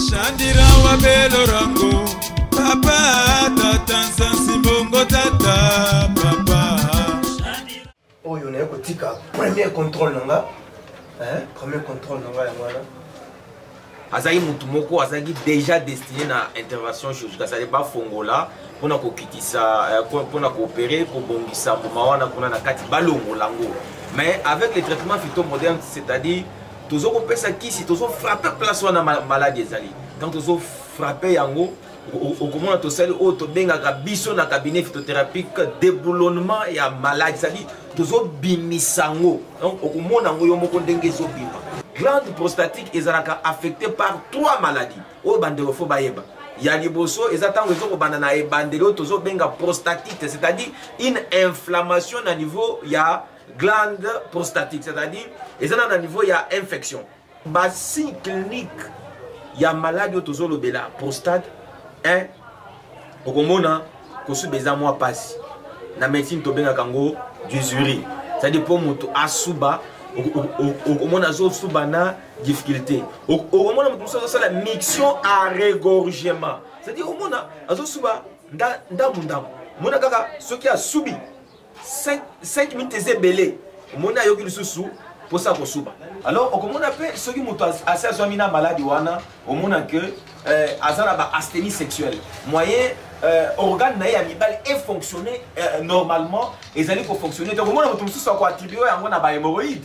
Shandira wa belo rango Papa tata nsansi bongo tata papa Oyo naye kotika premier contrôle na nga Premier contrôle na nga yango wana azalaki motu moko azalaki déjà destiné na intervention chirurgicale sale bafongola mpona kokitisa euh, mpona koopere kobongisa mbuma wana kuna na kati balongola yango mais avec le traitement phytomoderne c'est-à-dire tozokopesa kisi tozofrappe place wana maladi ezali donc tozofrappe yango okomona tosali oyo tobengaka biso na cabinet phytothérapique déboulonnement ya maladi cetadire tozobimisa yango donc okomona yango yo moko ndenge ezobima glande prostatique ezalaka affecté par trois maladies oyo bandeko fo bayeba ya liboso eza ntango ezokobanda na ebandeli oyo tozobenga prostatite c'est-à-dire une inflammation na niveau ya glande prostatique c'est-à-dire eza na na niveau ya infection ba signe clinique ya maladi oyo tozolobela prostate eh, okomona kosuba eza mwa mpasi na médecine tobengaka yango dusuri cetadi mpo moto asuba okomona azosuba na difficulté okomona moto mosusu azosala mixion a regorgement cetadi omona azosuba ndambu ndambu mona kaka soki asubi 5 minutes eza ebele omoni ayoki lisusu mposa kosuba alors okomona mpe soki moto asi azwami na maladi wana omona ke euh, aza na baasthénie sexuelle moyen euh, organe na ye ya mibale efonctionne euh, normalement ezali kofonctionne te okomona moto mosusu akoattribue yango na bahemoroïde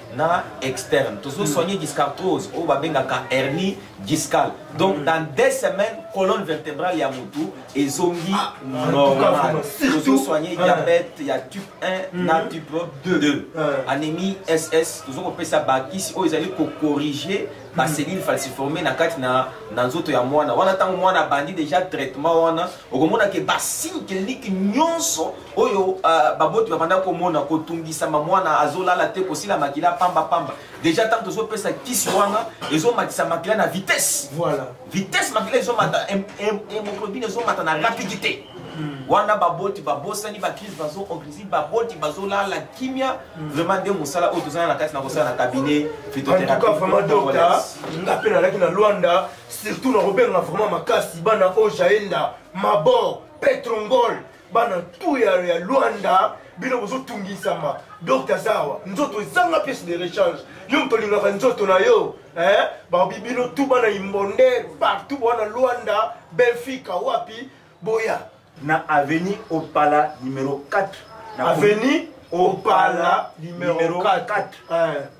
na externe tozo soigner discartrose oyo babengaka hernie discale donc dans deux semaines colonne vertébrale ya mutu ezongi ah, ah, normal tozo soigner ah. diabète ya type 1 mm-hmm. na type 2 anémie ss tozo kopesa bakisi oyo ezali kocorrige bacellules mm-hmm. falciforme na kati na, na nzoto ya mwana wana ntango mwana abandi déjà traitement wana okomonake basigne clinique nyonso oyo uh, baboti babanda komona kotungisama mwana azolala te kosila makila pamba pamba deja ntango tozopesa kisi wana ezomatisa makila na vitesse voilà. vitesse makila ezomata hemoglobine ezomata na rapidité mm. wana baboti babosani bakrise bazoorganize baboti bazolala kimia mm. vraiment nde mosala oyo tozala na kati na kosala na cabinet fitoterapiedoka nga mpe nalaki na lwanda surtout na kobenga vraiment makasi bana oyo jaenda mabor petrongol bana tout ya, ya luanda bino bozotungisama docte aza awa nzoto ezanga piece de rechange yo moto olingaka nzoto na yo eh? babi bino tu bana imbonde partout bwana luanda benfica wapi boya na avenue opala numero 4 avenue opala numero 4, 4. Eh.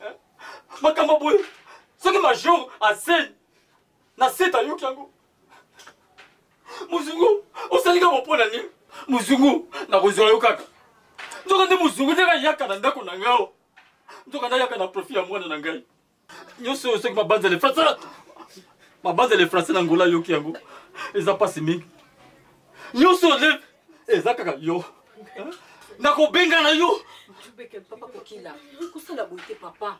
eh? makambo boye soki major asei na sete ayoki yango mozungu osali kaka mpo na nini mozungu nakozwa yo kaka nzoka nde mozungu ndenge ayaka na ndako na ngai nzoka nde ayaka na profit ya mwana na ngai nyonso oyo soki mabanza le français mabanza le français na ngola ayoki yango eza mpasi mingi nyonso eza kaka yo nakobenga na yo tubeke papa kokila kosala boye te papa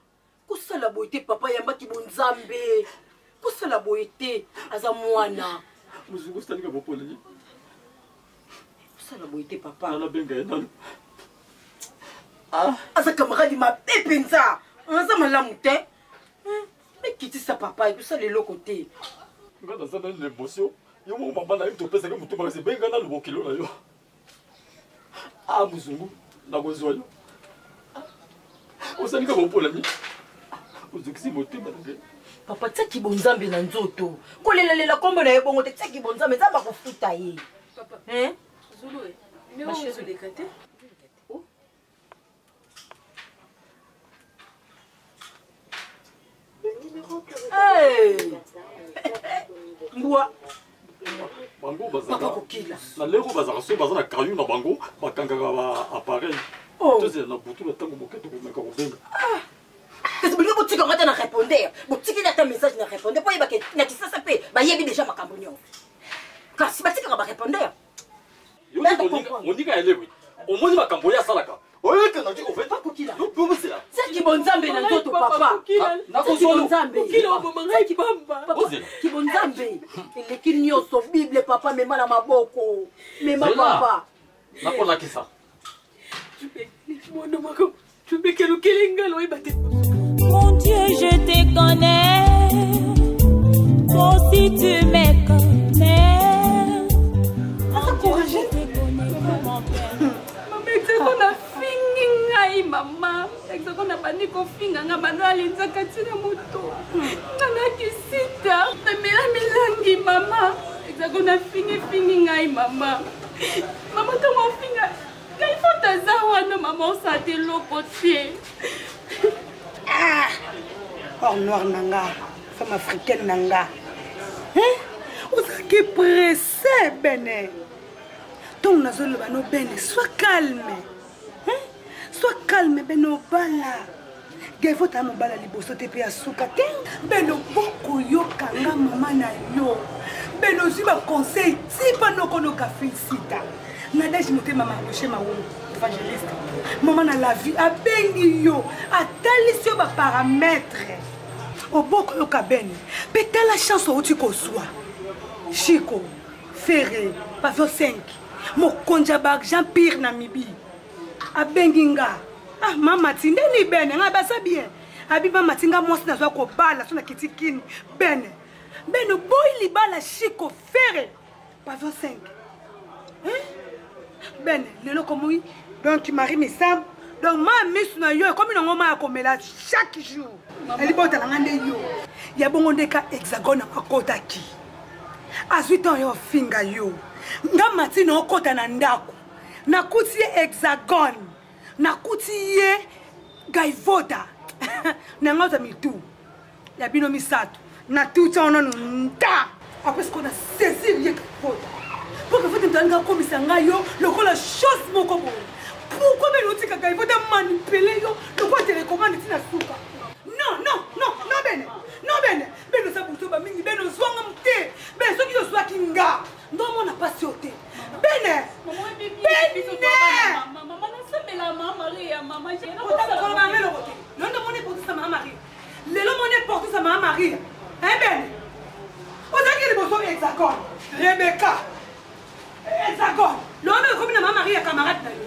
kosala boye te papa yambaki bonzambe kosala boye te aza mwana mozungu sitalinga bopoleli kosala boye te papa nanabenga ye nano ah. aza kamaradi mabe mpenza aza malamu te mikitisa papa ekosala eloko te nga naza nani na émotion yo moko mama na ye topesaki motu makasi benga nanu bokilo na yo a ah, mozungu nakozwa yo osalika bopolami ozokisi motema na ngai papa tia kibonzambe na nzoto kolelalela nkombo na ye bongo te tia kibonzambe nzambe akofuta ye mbwa bango papa kokila na leko bazalaka soki baza na kayu na bango bakangaka ba appareil Oh. tozela na butu na ntango moke tokomeka kobenga kasi bolingi botika nga te na repondeur botikeli ata message na repondeur mpo yebake na kisasa mpe bayebi deja makambo nyonso kasi batikaka barepondeur moninga ya lewi omoni makambo oyo asalaka oyekanga ti oveta kokila yobomesela seki bonzambe na nzoto papa nakozolonzambe kibonzambe eleki nyonso bible papa mema na maboko mema papa nakolakisa Mon Dieu, je te connais. Toi aussi, tu me connais. Mon Dieu, je te connais comme mon père. Maman, tu es qu'on a fini, ngai, maman. Exoko na bandi kofinga nga bando alinzaka ntina moto nga na kisita namela milangi mama exako nafingifingi ngai mama Maman to mafinga. Ngai fota za wana maman osate eloko te. Ah! Or noir na nga, femme africaine na nga. Hein? Ozalaki presse bene. Ntongo nazoloba no bene, sois calme. Hein? Sois calme, Beno Bala. Devo ta mobala liboso te pe ya suka te. Beno boko yoka nga mama na yo. Beno zwi ba conseil tipa noko noka felicita. Nadège motema ma rocher ma wolo. Evangeliste. Mama na la vie abengi yo, atalisi yo ba paramètres. Oboko yoka Beni. Pe tala chance outi kozwa. Chico, Ferre, Pavio 5. mokonzi ya baargent pire na mibi abengi nga ah mama ti ndeni bene ngai baza bien abi mama ti nga mwasi nazwa kobala so na kiti kini bene bene boyi libala shiko fere pavio 5 eh? bene lelo komoi donc marie misambo donc ma misu na yo ekomi nango ma ya komela chaque jour elibotala nga nde yo ya bongo nde ka hexagone akotaki azwi temps yo afinga yo nga mati na okota na ndako nakuti ye hexagone nakuti ye gaivota na nga oza mitu ya bino misato natuti yango nanu nta apres sikoyo na saisir ye gaivota mpo gaivota moto alinga akomisa ngai yo lokola chose moko boye pourkoi bene otika gaivota manipule yo lokola telekomande ntina suka non non non non bene non bene beno oza buzoba mingi beno ozwanga mote bene soki ozwaki nga ndo omona mpasi oyo te bene beneotakolobaameloko te lelo nde omoni eportisa mama maria lelo omoni eportisa mama maria e bene ozalaki liboso hexagone rebeka hexagone lelo nde okomi na mama maria camarade na yo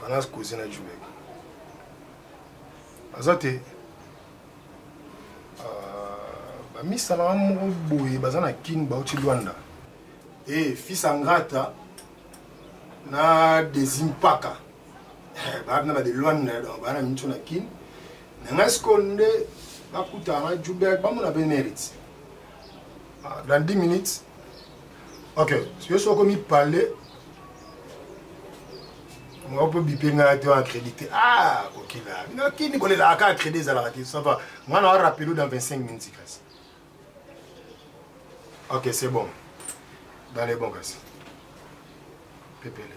fanas kozi na jule aza te bamisalaka moko boye baza na kin bauti lwanda e eh, fils angrata na desimpaka eh, baza na bade lwanda donc baza na miso na kin na ngai sikoyo nde bakutaka na jubek bamona mpe mérite ah, dans 10 minutes ok yo soki okomi parle nga mpe bipe ngai to accrédité ah kokila bino kini kolelaka ka accrédit ezalaka te ça va nga na rappelo dans 25 minutes kasi ok c'est bon dans les bon kasi pepele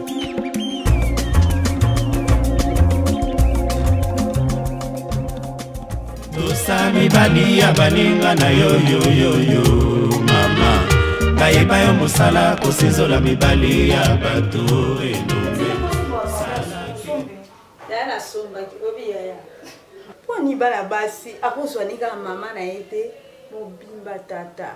tosa mibali ya baninga na yo yoyoyo mama bayeba yo mosala kosinzola mibali ya bato mpo nibala basi akozwa nika mama na ye te mobimba tata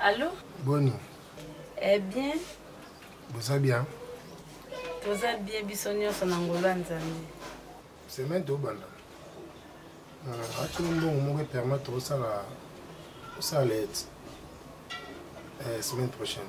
Allô Boni. Eh bien. Boza bien? Toza bien biso nyonso na ngolu ya Nzambe. Semaine tobanda. Euh, Ati mbongo moko epermettre tokosala osala lete eh, semaine prochaine.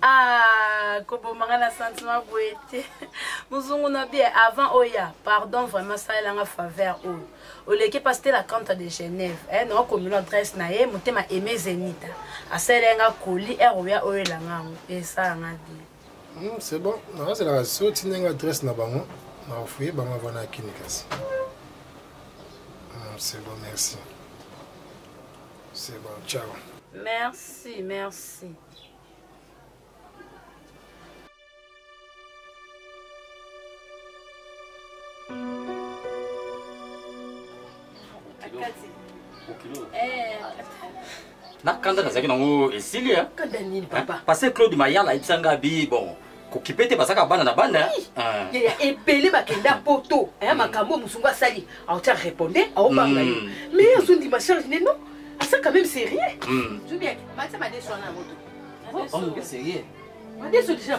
Ah, koboma nga na sentiment boye te mozungu na bie avant oya pardon vraiment salela nga faveur oyo oleki mpasi te la cante de genève eh, nanga komilo adresse na ye motema aime zenita asalela nga koli ere oya oyela nga yango esala nga de hmm, c'est bon nakazelaka so otinda nga adresse na bango nakofuye bango avana ya kini kasi hmm, c'est bon merci c'est bon ciao merci merci nakanda nazalaki nango esili pase claude mayala ayebisa ngai bi bon kokipe te bazaka bana na bana ah. yaya ebele bakenda poto aya mm. makambo oyo mosungu asali aotya reponde aobanga yo mai mm. azondima charge ne non asa quand même sérieux mm. oh, oh, madeso déjà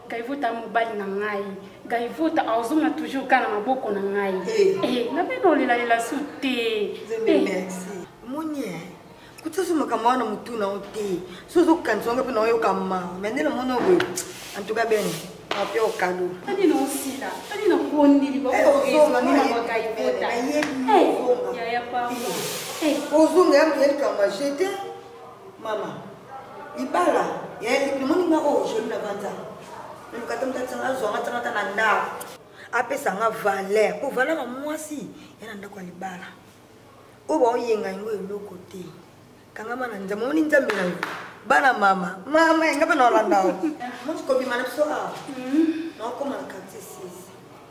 Gaivuta mobali na ngai Gaivuta azonga toujours kaka na maboko na ngai eh. Eh, na bino olelalela su te eh. moni kuta so makambo wana motu na yo te so ozokanisa wanga mpe na oyoka mawa me nde namoni oboye en tout cas bene ape okado tani na osila tani na kondeli baozoyaya papa ozonga ya miyelikambo jete Mama, libala ya eliki moni nga oyo joli na banza. Naluka te motata nga zwa nga tanga ta na ndako. Apesa nga valeur, po valeur ya mwasi ya na ndako ya libala. Oyo baoyenga yango eloko te. Kangama na nzambe, moni nzambe na yo. Bana mama, mama enga pe na olanda yo. Moni kobima na biso awa. Na okoma na quartier 6.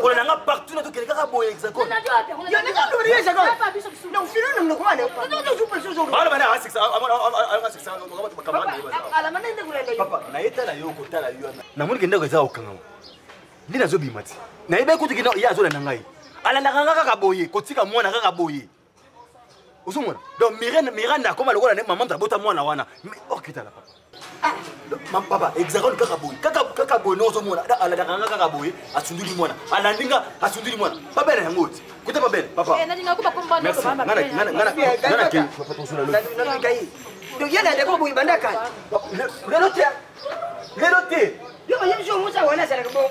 kolanda nga partout nato kende kaka boye hexagonebana nayetala yo kotala yo namoni ke ndako eza kokangama nde nazobima ti nayebaki kutu ye azolanda ngai alandaka nga kaka boye kotika mwana kaka boye ozomona donc miranda miranda akoma lokola nde mama moto abota mwana wana okitala papa ah, papa hexagone kaka boye kaka boye ndenge ozomona alandaka nga kaka boye asunduli mwana alandi nga asunduli mwana babele yango oti kuta babele papalelo te lelo te yo bayebisi omusa wana azalaka bongo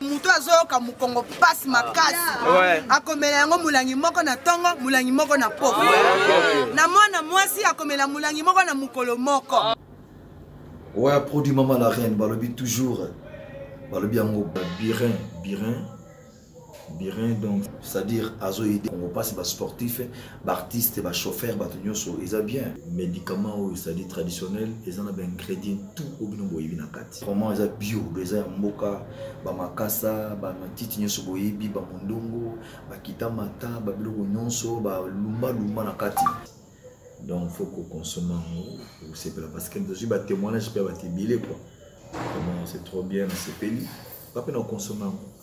moto azoyoka mokongo mpasi makasi ah, akomela yango molangi moko na ntongo molangi moko na poko ah, na mwana mwasi akomela molangi moko na mokolo moko ah. oya produit mama la reine balobi toujours balobi yango birin birin birin donc c'est-à-dire azo aide kongo mpasi basportif baartiste bachauffeur bato nyonso eza bien médicament oyo c'est-à-dire traditionnel eza na baingrédient tout oyo bino boyebi na kati vraiment eza bio do eza ya mboka bamakasa bamatiti nyonso boyebi bamondongo bakita mata babiloko nyonso balumbalumba na kati donc faut kokonsome yango osepela parce que tozwi batémoignage mpe ya bato ebele quoi vraiment c'est trop bien nasepeli bape na okonsome yango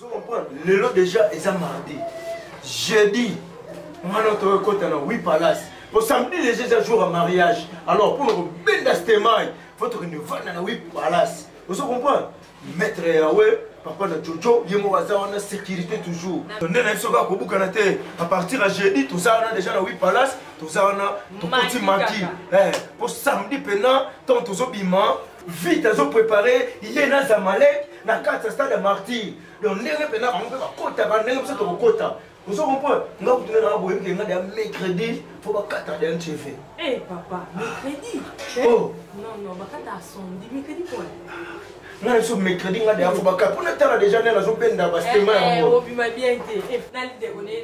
Vous comprenez Le lot déjà est à mardi. Jeudi, moi notre recote dans 8 palaces. Pour samedi, les gens un jour à mariage. Alors pour nous, ben d'astemai, faut que nous venions dans 8 palaces. Vous comprenez Maître Yahweh, papa na jojo ye moko aza wana sécurité toujours nde na biso kaka kobukana te à partir ya jeudi toza wana déjà na wi palace toza wana tokoti maki mpo eh, samedi mpena ntango tozobima vite azo prépare ye na zamalek na kati ya stade ya martyr donc ndenge mpena bango mpe bakotaka ndenge biso tokokota ozo comprendre nga kutuna nanga boyebi ke nga deya mercredi fo bakata deya ntv eh papa mercredi eh? oh. non non bakata sondi mercredi pona nga na biso mercredi nga deya fo bakata mpona tala deja nde nazobenda bastema eh, eh, yango obima bien te nalidekone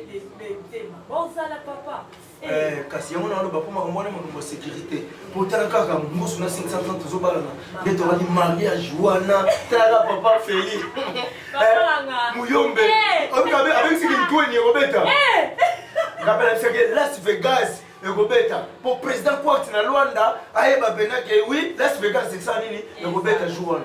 te bozala papa Eh, kasi yango naloba mpo makambo wana makambo ya sécurité mpo tala kaka mbusu na 530 tozobalana nde tolaki mariage wana tala papa feli eh, muyombe eh. abengisi kintueni ekobeta ngape nabisaki las vegas ekobeta mpo président quart na lwanda ayeba mpena ke wi las vegas eksa nini ekobeta jour wana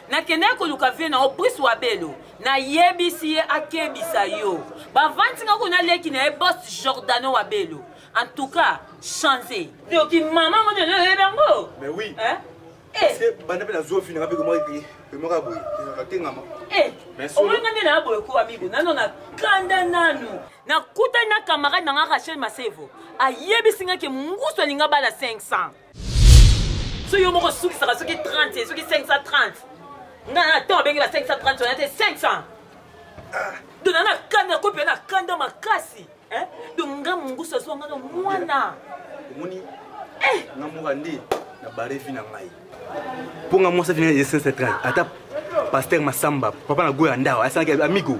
nakendaki koluka vie na obrice wabelo nayebisi ye akebisa yo bavandi nga kuna leki na ye bos jordano wabelo en tout cas change yoki mama ngo nde nayebi yango mais oui eh? parce que banda mpe nazwa finaka mpe komaki pemaka boye atengama omonga nde na boye ko amigo nano na kanda nanu nakutani na camarade na nga rachel masevo ayebisi nga ke ngusu alinga bala 500 so yo moko osukisaka soki 30 soki 530 nga na temps abengi ba 530 wana te 500 dona na kanda kope na kanda makasi donc nga mongusu azwa nga na mwana omoni eh! nga moka nde na barevi na ngai mpo nga mwasi afina ye 530 ata paster masamba papa na goya ndawa asalaki amigo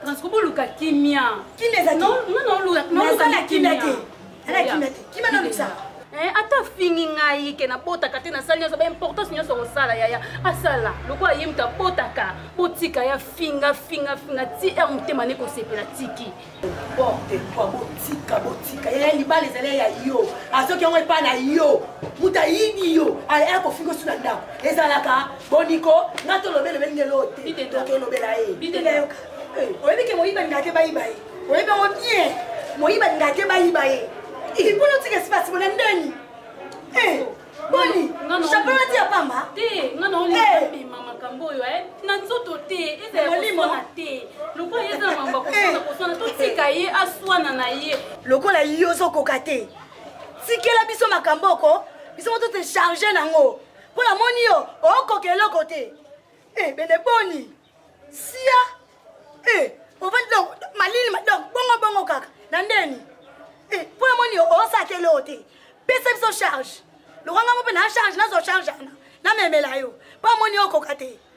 Francisco boluka kimia. Kimia ezali. Non non non luka. Naza na kimia te. Ana kimia te. Kimia na luka. Eh, ata fingi ngai ke nabotaka te nasali nyonso baimportance nyonso kosala yaya asala lokola ye moto abotaka botika ya finga finga finga ti r motema ne kosepela tiki porte kua botika botika yaya libala ezali ya yo azoki yango epai na yo moto ayibi yo aya kofinga osu na ndako ezalaka boniko nga tolobela ebeli nde loo te tolobela ye oyebi ke moyiba linga te bayiba ye oyebi yango bien moyiba linga te bayiba ye ipona otika espace bona ndeni boni chapeau nati ya pamba te nga naolibima makambo oyo eh. na nzoto te ezalakoswana te lokola ye eza na mambo akoswana koswana totika ye aswana na ye lokola yo ozokoka te tikela biso makambo oko biso moto te charge nango mpo namoni yo okoka eloko te e eh, bende boni sia e eh, ovandi donc malili donc bongo bongo kaka na ndeni e eh, mpo namoni yo osaka eloko te pesa biso charge lokwanga ngo mpe na charge nazwa charge ana namemela yo mpo amoni yo okoka te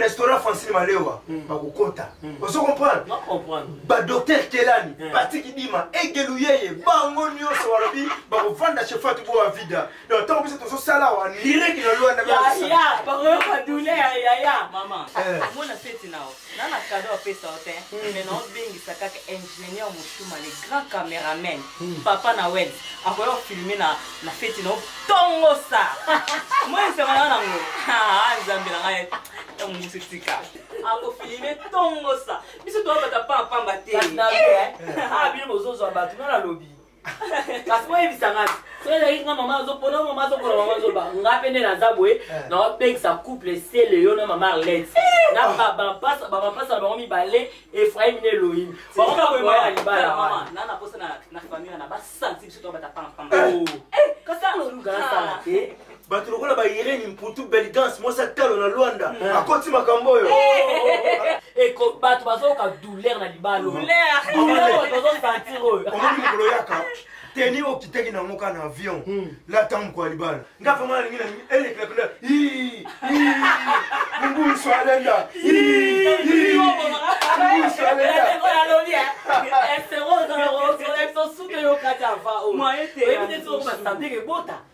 restaurant francine malewa hmm. bakokota hmm. ozo comprendre badokter kelani hmm. batiki dima egelu yeye bango nyonso balobi bakovanda chez fatu bo avida donc ntango biso tozosala wa lireki na lwanda Junior Mutuma le grand cameraman hmm. papa na web akoya kofilme na, na feti na otongosa moi nsema na nango nzambe na ngai ntango mosusu tika akofilme tongosa biso toyabata pamba pamba te eh. eh. ah, bino bozozwa bato nga nalobi kasi boyebisa ngai soki ezalaki nga mama azopona mama azokola mama azoba nga mpe nde naza boye eh. naopekisa couple sele yo na mama arlete eh. na babapasa babapasa na bango mibale efraim na elohim bango bakoyeba ya libala wana bato lokola bairene mputu belgance mwasi atalo na lwanda eh. akoti makambo oyo eh. eh, bato bazoyoka douleur na libalo bazosantir oyo omoni mokolo yaka teni okitaki nango ka na avion hmm. lata mokwa libala nga vraimen nalingi na elekela kuna mumbusu alenda mumbusu alenda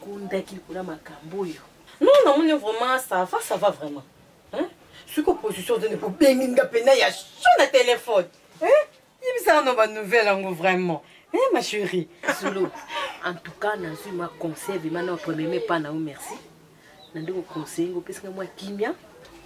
kundaki likolo makambo oyo non namoni vraiment ça va ça va vraiment soki opposition ozali kobengi nga mpena ya sho na telefone yebisa nano banouvelle yango vraiment eh, ma chérie solo en tout cas nazwi mwa conseil vraimen na premierme epa na yo merci na nde koconseille ngo opesi nga mwa kimia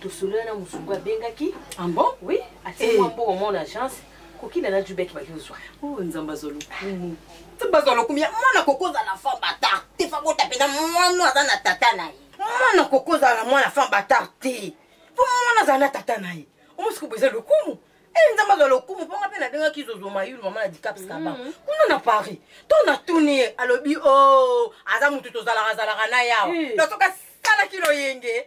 tosolola na mosungu abengaki ambon ah oui atie mwa eh. mbongo mona agence kokina na jube ki baki ozwa oh, nzambe azwa lokumu nzambe azwa lokumu ya mwana kokozala femme batar te fabota mpenza mwana aza na tata na ye mwana kokozala mwana femme batar te mpo mwana azala na tata na ye omosukubo eza lokumu e nzambe azwa lokumu mpo nga mpe nabengaki zozo mayulu mama na dicaps kaba mm. kuna na paris to natuni ye alobi o oh, aza motu tozalaka zalaka na yawa eh. na soki asalaki loyenge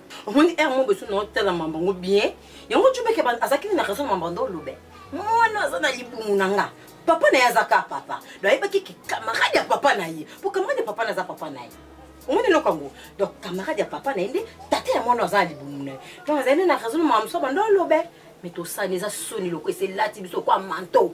omoni heure moko esu nao tala mamba yango bien yango jubeke azalaki nini na raison mamba ndo olobe mwana aza na libumu na nga papa na ye azaka papa do ayebaki ki camarade ya papa na ye po camarade ya papa na aza papa na ye omoni eloko yango donc camarade ya papa na ye nde tata ya mwana aza na libumu na ye donc azali nde na raison mama mosusu bando alobe me tosani eza soni loko eselati biso kwa manto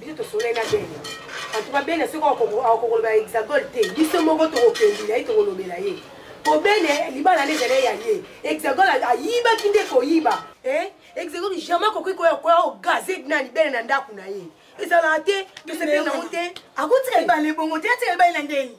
biso tosolai na bene antuka bene soki akokoloba hexagone te biso moko tokokende na ye tokolobela ye po bene libala nde ezali ya ye hexagone ayibaki nde koyiba hexagone eh? jamais akoki koya ogaze nani bene na ndako na ye ezalaka te tosepeli nango te akotika ebale bongo te atika ebale na ndeni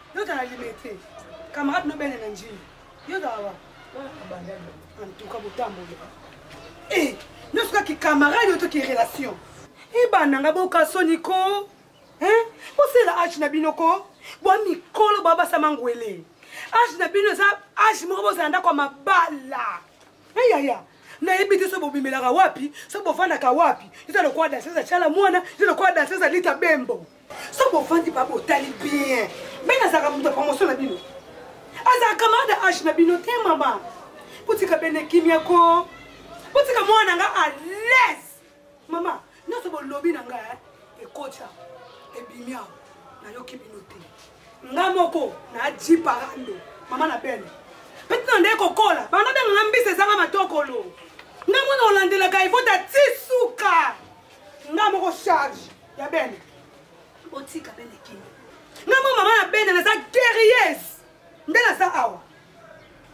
Yo tala limete. Camarade no bene na njili. Yo tala wa. En tout cas botamboli. Eh, no suka ki camarade to ki relation. Eh bana nga boka soni ko. Hein? Bosela age na bino ko. Bwa mikolo bwa basama ngwele. Age na bino eza age moko bozala ndako ya mabala. Eh ya ya. nayebi te so bobimelaka wapi so bofandaka wapi eza lokola daseza chala mwana eza lokola daseza lita bembo soki bovandi pa botali bien bene azalaka moto ya promotion na bino azalaka camarade age na bino te mama botika bene kimia ko botika mwana na nga à l'aise mama nyonso bolobi na nga eh, ekotya ebimi awa nayoki bino te nga moko naji parando mama na bene peti na ndeye kokola banda benga nga mbisi ezanga matokolo nga mwana olandelaka evota ti suka nga moko charge ya bene botika bene kimia nga mwa mama ya bene naza guerrieuse nde naza awa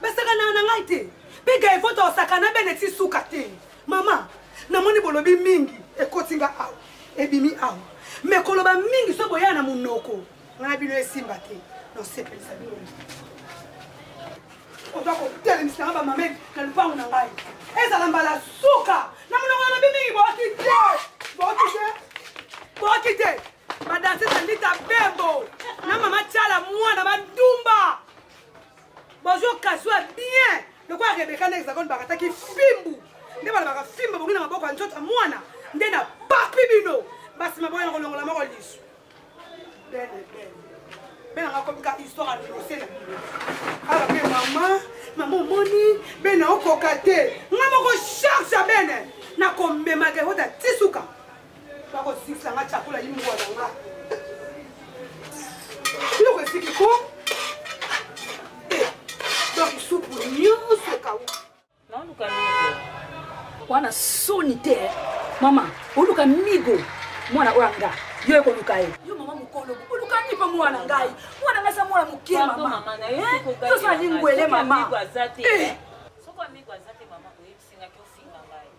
basakanaka na ngai te mpe gaevoto osakana bene ti suka te mama namoni bolobi mingi ekoti nga awa ebimi awa me koloba mingi so boya na monoko nga na bino esimba te nosepelisa bino oza kotelemisa nga bamameki na lupango na ngai ezala mbala suka na monoko na bimingi boki te boki te boki te badanse tandita bembo na mama tiala mwana badumba bozokaswa bien lokola rebeka na hexagone bakataki fimbu nde balobaka fimbu ebongi na maboko ya nzoto ya mwana nde na papi bino basima boyana kolongola moko lisu belle belle bena nga komika histoire ya nose na bino awa mpe mama mama omoni bena okoka te nga moko charge ya bene nakomemaka ekota tisuka bakozikisa nga cakola yimboa na nga biloko esiki ko eh, donc supu nyonso ekauka naoluka migo wana soni te eh. mama oluka migo mwana oyo anga yo ekoluka ye yo mama mokolo olukani mpe mwana ngai mwana ngai sa mwana moke mama yo sa lingwele mama eh.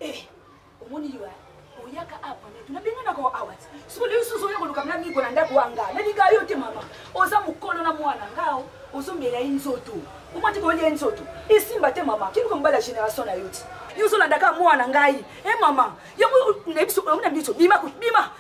eh. omoni yo oyaka awa pamela tuna ndenge nako awa ti soko lelo susu oya koluka mna miko na ndako wa nga nalinga yo te mama oza mokolo na mwana ngao ozomela ye nzoto omati koyolia ye nzoto esimba te mama kiluka mobala ya génération na yo ti yo ozolandaka mwana ngai e mama yango na biso omona biso bima bima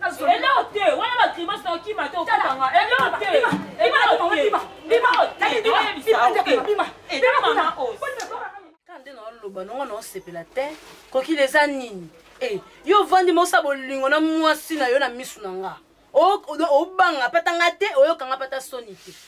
eloko te wana ba grimace na okima te okotanga eloko te eloko te bima bima bima bima nde naoloba nongo naosepela te kokila eza nini e yo ovandi mosa bolingo na mwasi na yo na misu na nga obanga pata nga te oyoka nga pata soni te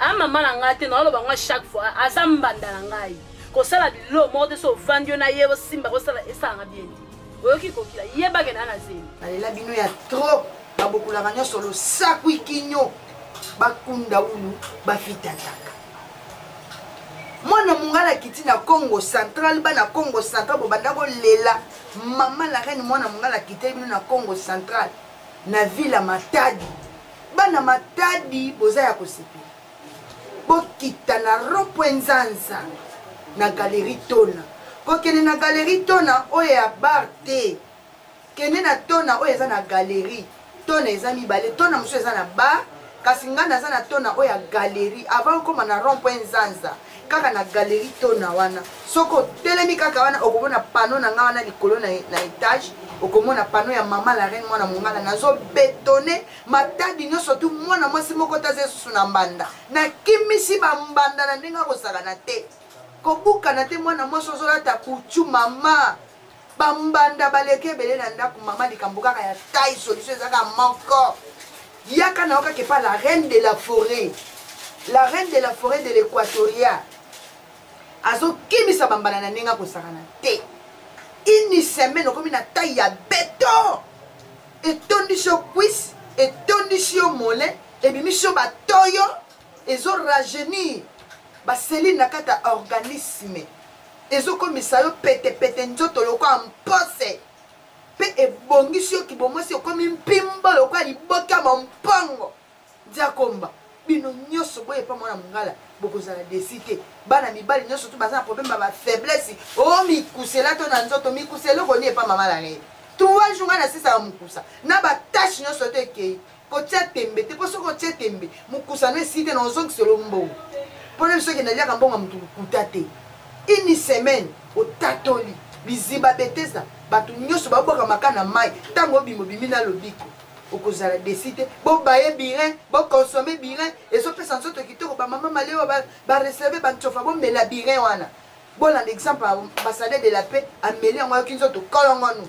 a mama na ngai te naoloba ngai chaque fois aza mbanda na ngai kosala bilo moko te so ovandi yo na ye osimba kosala esalanga bien te oyoki kokila yebake na na zemi alela bino ya trop babokolaka nyonso losakwi kinyo bakunda ulu bafitataka mwana mongala kiti na congo central bana congo central bobanda kolela mama la reine mwana mongala kiteli bino na congo central na ville ya matadi bana matadi boza ya kosepela bokita na rompwe nzanza na galerie tona kokende na galerie tona oyo ya bar te kende na tona oyo eza na galerie tona eza mibale tona mosusu eza na bar kasi ngai naza na tona oyo ya galerie avant okoma na rompwe nzanza kaka na galerie tona wana soki otelemi kaka wana okomona pano na nga wana likolo na, na etage okomona pano ya mama la reine mwana mongala nazobetone matadi nyonso tu mwana mwasi moko taza esusu na mbanda nakimisi bambanda na ndenge akozala na te kobukana te mwana mwasi ozolata kuchu mama bambanda baleki ebele na ndako mama likambo kaka ya tai solution eza kaka moko yaka na yo kaka epa la reine de la forêt la reine de la forêt de l'équatoria azokimisa bambala na ndenge akosakana te ini semaine okomi na tai ya beton etondisi yo cuise etondisi yo mole ebimisi yo batoyo ezo rajeunir ba cellules na kati ya organisme ezokomisa yo petepete nzoto lokola mpose mpe ebongisi yo kibomwasi okomi mpimbo lokola liboka mwa mpongo diakomba bino nyonso boye mpa mwana mongala bokozala desi te bana mibali nyonso to baza na problème ya bafaiblesse o oh, mikusela to na nzoto mikusela eloko nini epa mama na ngai trois jour ngai nasisa ya mokusa na batache nyonso to ekei kotia tembe te mpo soki otie tembe mokosano esi te na ozongiselo mbongo mpo na biso kende aliaka mbongo ya motu lokuta te ini semaine otatoli biziba betesa bato nyonso babwaka maka na mai ntango obima obimi na lobiko okozala desi te bobaye birin bokonsome birin ezopesa nzoto kitoko bamama malewa bareserve bancofa bomela birin wana bolanda exemple ya ambassadeur de la paix ameli yango ayoki nzoto kolongonu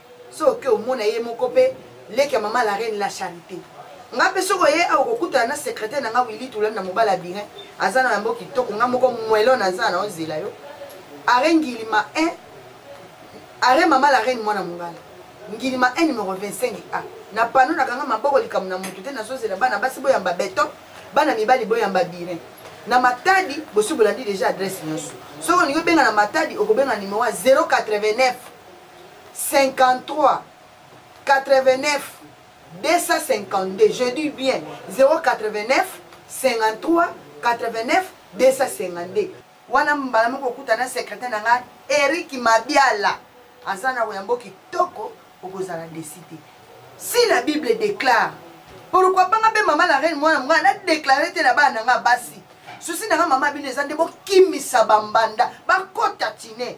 soki omona ye moko pe leki ya mama la reine la charite nga pe soki oye awa okokutana na secretaire na nga wili tulani na mobala birin aza na yango kitoko nga moko mwelo naza na ozela yo are ngilima 1 are mama la reine mwana mongala ngilima 1 numero 25 a na pano nakanga maboko likambo na motu te nazozela bana basi boyamba beton bana mibali boyamba birin na matadi bosi bolandi deja adresse nyonso soki olingi obenga na matadi okobenga nimero ya 089 53 89 252 je dis bien 089 53 89 252 wana mbala moko okuta na secrétaire na ngai eric mabiala aza na oyambo kitoko okozala desi te si la bible déclare pourkui banga mpe mama la reine mwana mongai nadeklare te na bana na ngai basi susi na ngai mama bino eza nde bokimisa bambanda bakota tine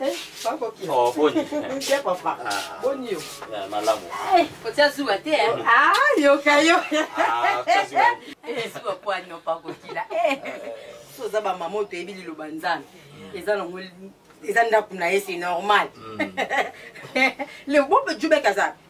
Eh, oh, boni papa ah. boni yo eh, malamu eh, otia zuwa te ah, yoka yo zuwa kwani opakokila so oza bamama oyo toyebi liloba nzambe mm. eza nango eza ndako na ye c'est normal mm. le bope jubek aza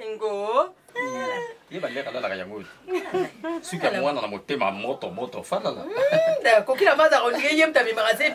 ngo ye baliaka alalaka yango oyo suki ya mwana na motema moto moto falala hmm, kokila maza kolingi ye mta bimaka se